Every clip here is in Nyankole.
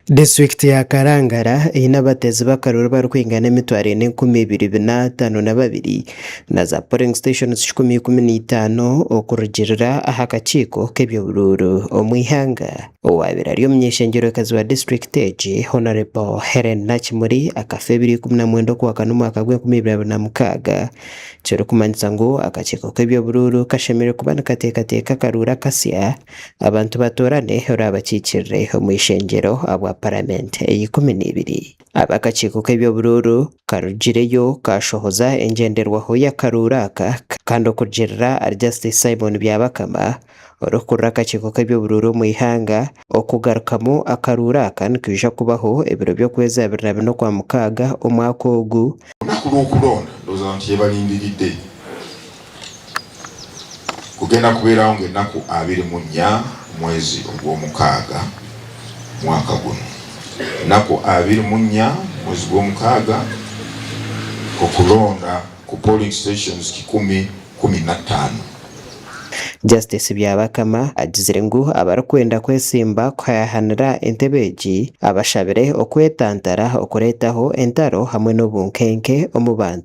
Disiturikiti ya Kalangala eine abateezi b'akaruru abarikwingana emitwaro ena enkumi ibiri bina ataano na babiri na za polling stations kikumi ikumi na itaano okurugirira aha kakiiko k'eby'oburuuru omu ihanga. Owaabaire ari omunyeshengyerokazi wa disiturikiti egi Hon Hellen Nakimuri akafa Ebiri ikumi na mwenda okwakana omwaka gw'enkumi ibiri abiri na mukaaga kirikumanyisa ngu akakiiko k'eby'oburuuru kashemereire kuba nikateekateeka akaruuru akasya Abantu batoorane oraabakiikirire omu ishengyero ahabwa Paramenti ey'ikumi n'eibiri. Ab'akakiiko k'eby'oburuuru karugireyo kaashohoza engyenderwaho y'akaruuru aka kandi okugirira ahari Justice Simon Byabakama orikukurira akakiiko k'eby'oburuuru omu ihanga, okugarukamu akaruuru aka nikwija kubaho ebiro by'okwezi abiri na bina okwa mukaaga omwaka ogu. Orunaku rw'okuronda, ndooza abantu tibaarindiride Gugenda kubeeraho ngu enaku abiri mu nya mwezi ogw'omukaaga mwaka gunu. Enaku abiri mu nya mwezi gw'omukaaga okulonda ku polling stations kikumi kumi na taano. Justice Byabakama agizire ngu abarikwenda kwesimba kuhayahanira entebe egi abashabire okwetantara okureetaho entaro hamwe n'obunkenke omu bantu.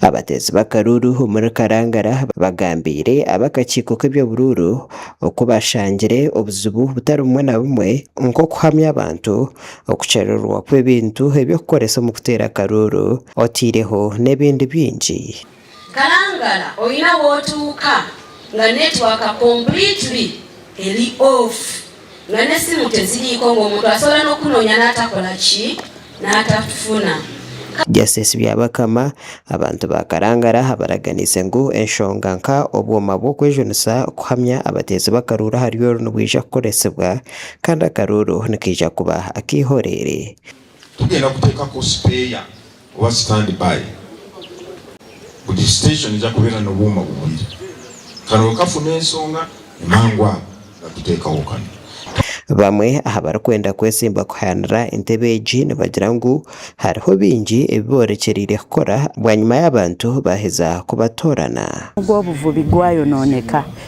Abateezi b'akaruuru omuri Karangara bagambiire ab'akakiiko k'eby'oburuuru oku bashangire obuzibu butari bumwe na bumwe nk'okuhamya abantu, okukyerererwa kw'ebintu eby'okukoresa omu kuteera akaruuru otaireho n'ebindi bingi. Karangara oine ahu otuuka nga network completely eri off. Ngu n'esimu teziriiko, ngu omuntu asobola n'okukunoonya naatakora ki? Naatakufuna. Justice Byabakama, Abantu ba Karangara abaraganiise ngu enshonga nka obwoma bw'okwejunisa kuhamya abateezi b'akaruuru ahari oru nibwija kukoresibwa kandi akaruuru nikaija kuba ak'eihoreere. Tugenda kuteekako sipeeya oba stand by. Buri station neija kubeera n'obwoma bubiri. Kare okafuna ensonga, ni mangu ago batuteekaho kanu. Bamwe aha barikwenda kwetsimba kuhayaanira entebe egi nibagira ngu hariho bingi ebi boorekyereire kukora bwanyima y'abantu baaheza kubatoorana. Nubwo obuvubi bwayonooneka,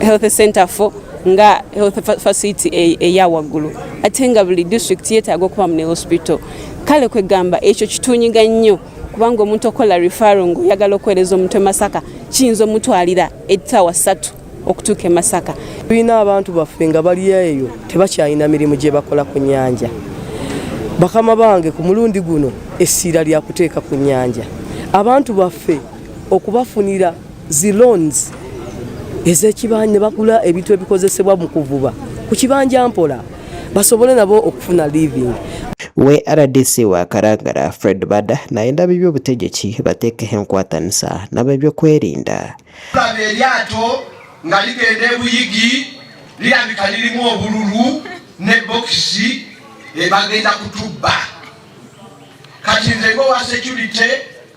health center fo nga health facility eya wagulu ate nga buli district yetaga okubamu ne hospital kale kwegamba ekyo kitunyiga nyo kubanga omuntu okukola referral ngu oyagala okuhereza omuntu e Masaka kiyinza omutwalira etaawa satu okutuka e Masaka. Twine abantu baffe nga bari eyo tebakyayina mirimu gyebakora ku nyanja bakama bange ku murundi guno esiira ryakuteka ku nyanja abantu baffe okubafunira Zi loans ezeki ba nibagura ebintu ebikozesebwa omu kuvuba kukibanja mpora basobole nabo okufuna living. We rdc wa Karangara Fred Bada nayenda ab'eby'obutegyeki batekeho enkwatanisa n'ab'ebyokwerinda. Kuraba eryato nga rigenda e Buyigi rirabika ririmu obururu ne bokisi bagenda kutubba kati nze ng'owa securite